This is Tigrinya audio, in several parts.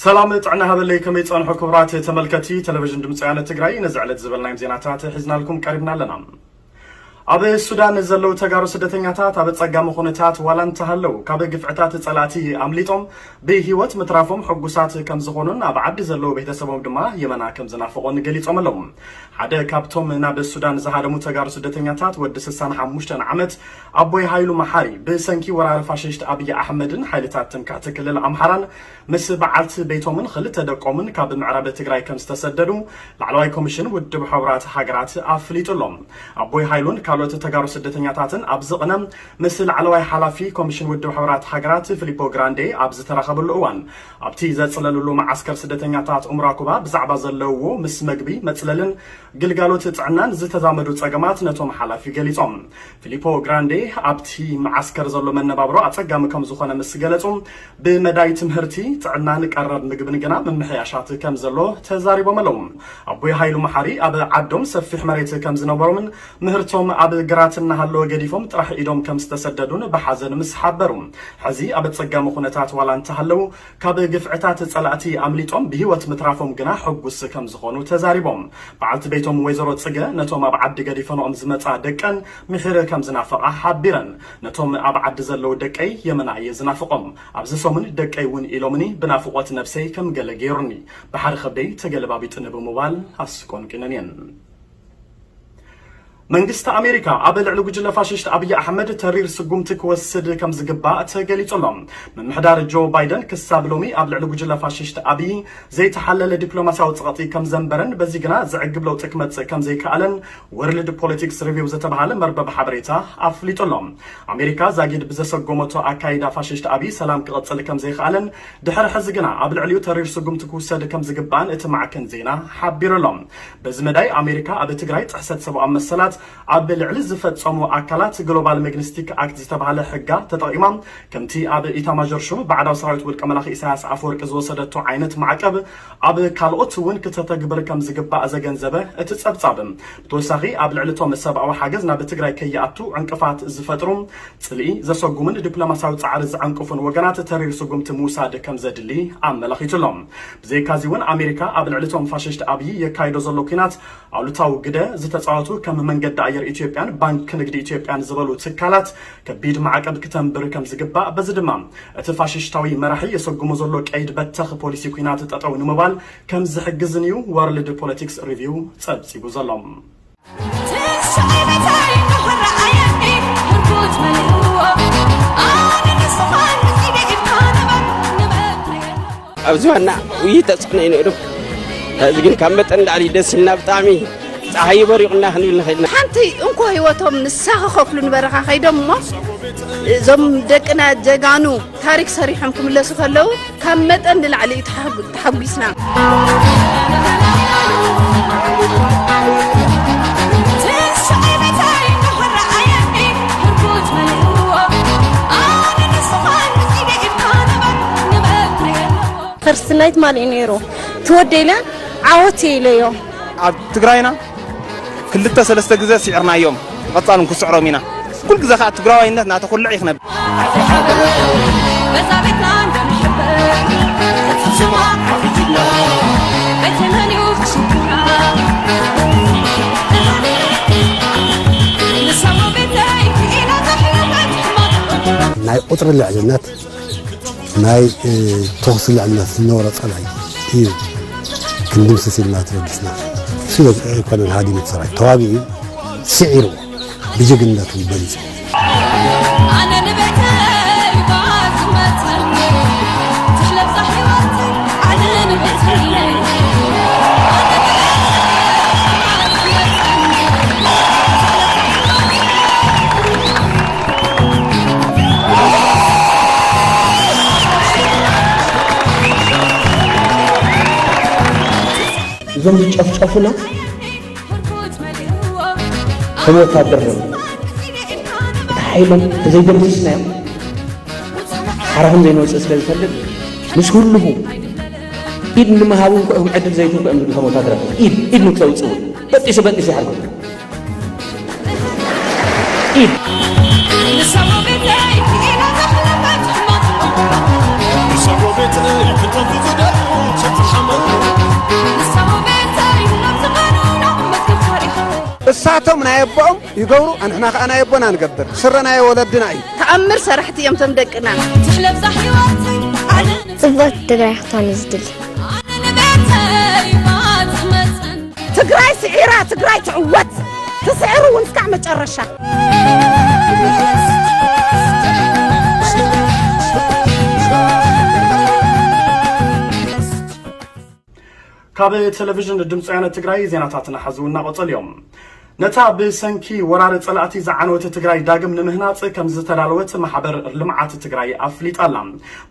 ሰላም ጥዕና ሃበለይ ከመይ ጸንሑ ክቡራት ተመልከቲ ቴሌቪዥን ድምፂ ወያነ ትግራይ ነዚ ዕለት ዝበልናዮም ዜናታት ሒዝናልኩም ቀሪብና ኣለና ኣብ ሱዳን ዘለዉ ተጋሩ ስደተኛታት ኣብ ጸጋሚ ኩነታት ዋላ እንተሃለዉ ካብ ግፍዕታት ጸላእቲ ኣምሊጦም ብህይወት ምትራፎም ሕጉሳት ከም ዝኾኑን ኣብ ዓዲ ዘለዉ ቤተሰቦም ድማ የመና ከም ዝናፍቖን ገሊጾም ኣለዉ ሓደ ካብቶም ናብ ሱዳን ዝሃደሙ ተጋሩ ስደተኛታት ወዲ 65 ዓመት ኣቦይ ሃይሉ መሓሪ፣ ብሰንኪ ወራር ፋሽስት ኣብይ ኣሕመድን ሓይልታት ትምክሕቲ ክልል ኣምሓራን ምስ በዓልቲ ቤቶምን ኽልተ ደቆምን ካብ ምዕራብ ትግራይ ከምዝተሰደዱ ላዕለዋይ ኮሚሽን ውድብ ሕቡራት ሃገራት ኣፍሊጡ ኣሎ። ኣቦይ ሃይሉን ካልኦት ተጋሩ ስደተኛታትን ኣብዚ ቕነ ምስ ላዕለዋይ ሓላፊ ኮሚሽን ውድብ ሕቡራት ሃገራት ፊሊፖ ግራንዴ ኣብ ዝተራኸብሉ እዋን ኣብቲ ዘፅለልሉ መዓስከር ስደተኛታት ኡምራኩባ ብዛዕባ ዘለውዎ ምስ መግቢ፣ መፅለልን ግልጋሎት ጥዕናን ዝተዛመዱ ፀገማት ነቶም ሓላፊ ገሊፆም። ፊሊፖ ግራንዴ ኣብቲ መዓስከር ዘሎ መነባብሮ ኣጸጋሚ ከም ዝኾነ ምስ ገለጹ፣ ብመዳይ ትምህርቲ፣ ጥዕናን ቀረብ ምግብን ግና ምምሕያሻት ከም ዘሎ ተዛሪቦም ኣለዉ። ኣቦይ ሃይሉ መሓሪ ኣብ ዓዶም ሰፊሕ መሬት ከም ዝነበሮምን ምህርቶም ኣብ ግራት እናሃለወ ገዲፎም ጥራሕ ኢዶም ከም ዝተሰደዱን ብሓዘን ምስ ሓበሩ፣ ሕዚ ኣብ ኣጸጋሚ ኩነታት ዋላ እንተሃለዉ፣ ካብ ግፍዕታት ፀላእቲ ኣምሊጦም ብህይወት ምትራፎም ግና ሕጉስ ከም ዝኾኑ ተዛሪቦም። በዓልቲ ቤቶም ወይዘሮ ፅገ ነቶም ኣብ ዓዲ ገዲፈንኦም ዝመፃ ደቀን ምሒር ከም ዝናፈቓ ሓቢረን። ነቶም ኣብ ዓዲ ዘለዉ ደቀይ የመና እየ ዝናፍቖም። ኣብዚ ሰሙን ደቀይ እውን ኢሎምኒ ብናፍቖት ነብሰይ ከም ገለ ገይሩኒ። ባሕሪ ከብደይ ተገለባቢጡኒ ብምባል ኣስቆንቊነን እየን። መንግስቲ ኣሜሪካ ኣብ ልዕሊ ጉጅለ ፋሽስት ኣብዪ ኣሕመድ ተሪር ስጉምቲ ክወስድ ከም ዝግባእ ተገሊጹ ኣሎ። ምምሕዳር ጆ ባይደን ክሳብ ሎሚ ኣብ ልዕሊ ጉጅለ ፋሽስት ኣብዪ ዘይተሓለለ ዲፕሎማስያዊ ጸቕጢ ከም ዘንበረን በዚ ግና ዘዕግብ ለውጢ ክመጽእ ከም ዘይከኣለን ወርልድ ፖለቲክስ ሪቪው ዝተባሃለ መርበብ ሓበሬታ ኣፍሊጡ ኣሎ። ኣሜሪካ ዛጊድ ብዘሰጎመቶ ኣካይዳ ፋሽስት ኣብዪ ሰላም ክቕጽል ከም ዘይከኣለን ድሕሪ ሕዚ ግና ኣብ ልዕሊኡ ተሪር ስጉምቲ ክውሰድ ከም ዝግባእን እቲ ማዕከን ዜና ሓቢሩ ኣሎ። በዚ መዳይ ኣሜሪካ ኣብ ትግራይ ጥሕሰት ሰብኣዊ መሰላት ኣብ ልዕሊ ዝፈፀሙ ኣካላት ግሎባል መግንስቲክ ኣክት ዝተብሃለ ሕጋ ተጠቒማ ከምቲ ኣብ ኢታማዦር ሹም ባዕዳዊ ሰራዊት ውልቀ መላኺ ኢሳያስ ኣፈወርቂ ዝወሰደቶ ዓይነት ማዕቀብ ኣብ ካልኦት እውን ክተተግብር ከምዝግባእ ዘገንዘበ እቲ ፀብፃብ ብተወሳኺ ኣብ ልዕሊ እቶም ሰብኣዊ ሓገዝ ናብ ትግራይ ከይኣቱ ዕንቅፋት ዝፈጥሩ ፅልኢ ዘሰጉሙን ዲፕሎማሲያዊ ፃዕሪ ዘዐንቅፉን ወገናት ተሪር ስጉምቲ ምውሳድ ከምዘድሊ ኣመላኺቱ ኣሎ። ብዘይካዚ'ውን ኣሜሪካ ኣብ ልዕሊ'ቶም ፋሽስት ኣብዪ የካይዶ ዘሎ ኲናት ኣሉታዊ ግደ ዝተጻወቱ ከም መንገዲ ኣየር ኢትዮጵያን ባንኪ ንግዲ ኢትዮጵያን ዝበሉ ትካላት ከቢድ ማዕቀብ ክተንብር ከምዝግባእ በዚ ድማ እቲ ፋሽሽታዊ መራሒ የሰጉሞ ዘሎ ቀይድ በተኽ ፖሊሲ ኲናት ጠጠው ንምባል ከምዝሕግዝን'ዩ ወርልድ ፖለቲክስ ሪቪው ጸብጺቡ ዘሎ። ኣብ ዝባና ውይ ተፅዕኖ እዩ ነይሩ እዚ ግን ካብ መጠን ላዕሊ ደስ ኢልና ብጣዕሚ ፀሓይ በሪቑና ክንብል ንኽእል ኢና ሓንቲ እንኮ ህይወቶም ንሳ ክኸፍሉ ንበረኻ ከይዶም እሞ እዞም ደቅና ጀጋኑ ታሪክ ሰሪሖም ክምለሱ ከለው ካብ መጠን ንላዕሊ እዩ ተሓጒስና። ፈርስት ናይት ማን እዩ ነይሩ ትወደይለ ዓወት ኢለዮ ኣብ ትግራይና ክልተ ሰለስተ ግዘ ሲዕርናዮም ብቀፃሊ ውን ክስዕሮም ኢና ኩሉ ግዘ ከዓ ትግራዋይነት ናተኹልዕ እዩ ክነብ በዛ ቤትና እንደንሕበር ተትስማ ዓፊትና ኣይተመን እዩ ክስኩና ንሳሞ ቤተይ ክኢላ ተሕለፈት ሕማቕ ናይ ቁፅሪ ልዕልነት ናይ ተኹሲ ልዕልነት ዝነበሮ ፀላኢ እዩ ክንድምስስ ኢልና ተበጊስና ስለ ኣይኮነን ሃዲሙ ሰራዊት ተዋጊኡ ስዒርዎ ብጅግንነቱ በሊፁ እዞም ዝጨፍጨፉና ከም ወታደር ነ እቲ ሓይሎም ተዘይደምስስናዮም ሓራ ከም ዘይንወፅእ ስለ ዝፈልጥ ምስ ህልኹ ኢድ ንምሃብ እውን ክኦም ዕድል ዘይትንኩ እዮም ዝብሉ ከም ወታደራት ኢድ ኢድ ንክተውፅኡ በጢሱ በጢሱ ይሓርገሉ እሳቶም ናይ ኣቦኦም ይገብሩ ኣንሕና ከዓ ናይ ኣቦና ንገብር ስረ ናይ ወለድና እዩ ተኣምር ሰራሕቲ እዮም ቶም ደቅና ጽብቕቲ ትግራይ ክትኮን እዩ ዝድሊ ትግራይ ስዒራ ትግራይ ትዕወት ትስዕር እውን እስካዕ መጨረሻ ካብ ቴሌቪዥን ድምፂ ወያነ ትግራይ ዜናታትና ሓዚ እናቐፀሉ እዮም ነታ ብሰንኪ ወራር ፀላእቲ ዝዓነወት ትግራይ ዳግም ንምህናፅ ከምዝተዳለወት ማሕበር ልምዓት ትግራይ ኣፍሊጣ ኣላ።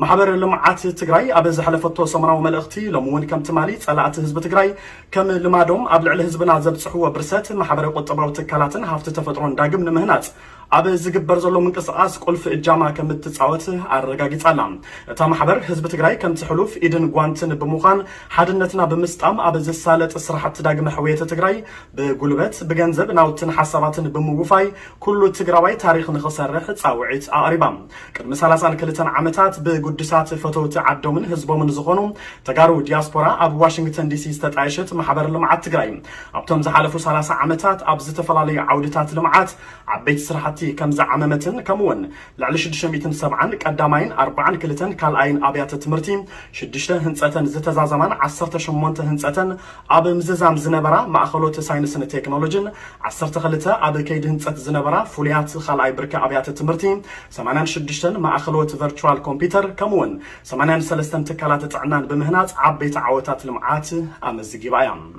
ማሕበር ልምዓት ትግራይ ኣብ ዘሕለፈቶ ሰሙናዊ መልእኽቲ ሎሚ እውን ከም ትማሊ ፀላእቲ ህዝቢ ትግራይ ከም ልማዶም ኣብ ልዕሊ ህዝብና ዘብፅሕዎ ብርሰት ማሕበረ ቁጠባዊ ትካላትን ሃፍቲ ተፈጥሮን ዳግም ንምህናፅ ኣብ ዝግበር ዘሎ ምንቅስቓስ ቁልፊ እጃማ ከምትፃወት ኣረጋጊፃ ኣላ። እታ ማሕበር ህዝቢ ትግራይ ከምቲ ሕሉፍ ኢድን ጓንትን ብምዃን ሓድነትና ብምስጣም ኣብ ዝሳለጥ ስራሕቲ ዳግመ ሕውየተ ትግራይ ብጉልበት፣ ብገንዘብ፣ ናውትን ሓሳባትን ብምውፋይ ኩሉ ትግራዋይ ታሪኽ ንኽሰርሕ ፃውዒት ኣቕሪባ። ቅድሚ ሰላሳን ክልተን ዓመታት ብግዱሳት ፈተውቲ ዓዶምን ህዝቦምን ዝኾኑ ተጋሩ ዲያስፖራ ኣብ ዋሽንግተን ዲሲ ዝተጣየሸት ማሕበር ልምዓት ትግራይ ኣብቶም ዝሓለፉ ሰላሳ ዓመታት ኣብ ዝተፈላለዩ ዓውድታት ልምዓት ዓበይቲ ስራሕቲ ከምዝዓመመትን ከምኡ ውን ልዕሊ ሽዱሽተ ሚእትን ሰብዓን ቀዳማይን ኣርብዓን ክልተን ካልኣይን ኣብያተ ትምህርቲ ሽዱሽተ ህንፀተን ዝተዛዘማን ዓሰርተ ሸሞንተ ህንፀተን ኣብ ምዝዛም ዝነበራ ማእኸሎት ሳይንስን ቴክኖሎጅን ዓሰርተ ክልተ ኣብ ከይዲ ህንፀት ዝነበራ ፍሉያት ኻልኣይ ብርኪ ኣብያተ ትምህርቲ ሰማንያን ሽዱሽተን ማእኸሎት ቨርቹዋል ኮምፒተር ከምኡ ውን ሰማንያን ሰለስተን ትካላተ ጥዕናን ብምህናፅ ዓበይቲ ዓወታት ልምዓት ኣመዝጊባ እያ።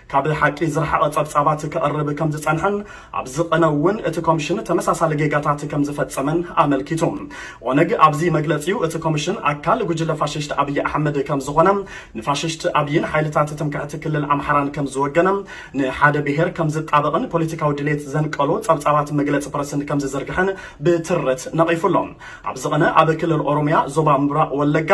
ካብ ሓቂ ዝረሓቐ ጸብጻባት ከቕርብ ከምዝጸንሐን ኣብዚ ቕነ እውን እቲ ኮምሽን ተመሳሳሊ ጌጋታት ከምዝፈጸመን ኣመልኪቱ። ኦነግ ኣብዚ መግለጺኡ እቲ ኮምሽን ኣካል ጉጅለ ፋሽስት ኣብይ ኣሕመድ ከምዝኾነ፣ ንፋሽስት ኣብይን ሓይልታት ትምክሕቲ ክልል ኣምሓራን ከምዝወገነ፣ ንሓደ ብሄር ከምዝጣበቕን ፖለቲካዊ ድሌት ዘንቀሎ ጸብጻባት መግለጺ ፕረስን ከምዝዝርግሕን ብትረት ነቒፉ ኣሎ። ኣብዚ ቕነ ኣብ ክልል ኦሮሚያ ዞባ ምብራቕ ወለጋ፣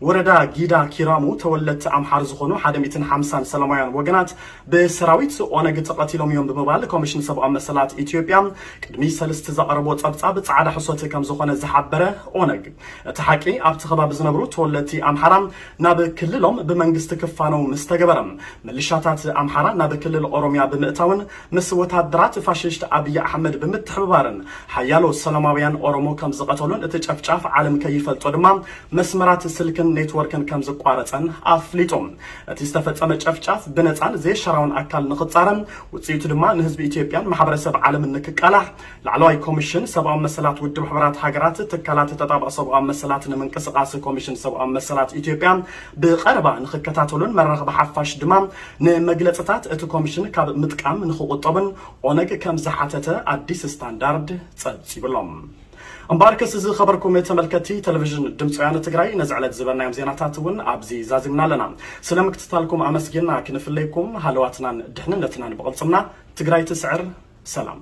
ወረዳ ጊዳ ኪራሙ ተወለድቲ ኣምሓሩ ዝኾኑ ሓደ ሚእትን ሓምሳን ሰላማውያን ወገናት ብሰራዊት ኦነግ ተቐቲሎም እዮም ብምባል ኮሚሽን ሰብኣዊ መሰላት ኢትዮጵያ ቅድሚ ሰልስቲ ዘቐረቦ ፀብፃብ ፃዕዳ ሕሶት ከምዝኾነ ዝሓበረ ኦነግ እቲ ሓቂ ኣብቲ ከባቢ ዝነብሩ ተወለድቲ ኣምሓራ ናብ ክልሎም ብመንግስቲ ክፋነው ምስተገበረ ምልሻታት ኣምሓራ ናብ ክልል ኦሮሚያ ብምእታውን ምስ ወታደራት ፋሽስት ኣብይ ኣሕመድ ብምትሕብባርን ሓያሎ ሰላማውያን ኦሮሞ ከምዝቐተሉን እቲ ጨፍጫፍ ዓለም ከይፈልጦ ድማ መስመራት ስልክን ኔትወርክን ከም ዝቋረጸን ኣፍሊጡ። እቲ ዝተፈጸመ ጨፍጫፍ ብነጻን ዘየሻራውን ኣካል ንኽጻረ፣ ውጽኢቱ ድማ ንህዝቢ ኢትዮጵያን ማሕበረሰብ ዓለምን ንክቃላሕ፣ ላዕለዋይ ኮሚሽን ሰብኣዊ መሰላት ውድብ ሕቡራት ሃገራት፣ ትካላት ተጣባቒ ሰብኣዊ መሰላት ን ምንቅስቓስ ኮሚሽን ሰብኣዊ መሰላት ኢትዮጵያ ብቐረባ ንኽከታተሉን መራኸቢ ሓፋሽ ድማ ንመግለጽታት እቲ ኮሚሽን ካብ ምጥቃም ንኽቑጠቡን ኦነግ ከም ዝሓተተ ኣዲስ ስታንዳርድ ጸብጺቡ'ሎ። እምበኣርከስ እዚ ዝኸበርኩም ተመልከቲ ተለቪዥን ድምፂ ወያነ ትግራይ ነዚ ዕለት ዝበልናዮም ዜናታት እውን ኣብዚ ዛዚምና ኣለና። ስለ ምክትታልኩም ኣመስጊንና ክንፍለየኩም ሃለዋትናን ድሕንነትናን ብቕልፅምና። ትግራይ ትስዕር! ሰላም!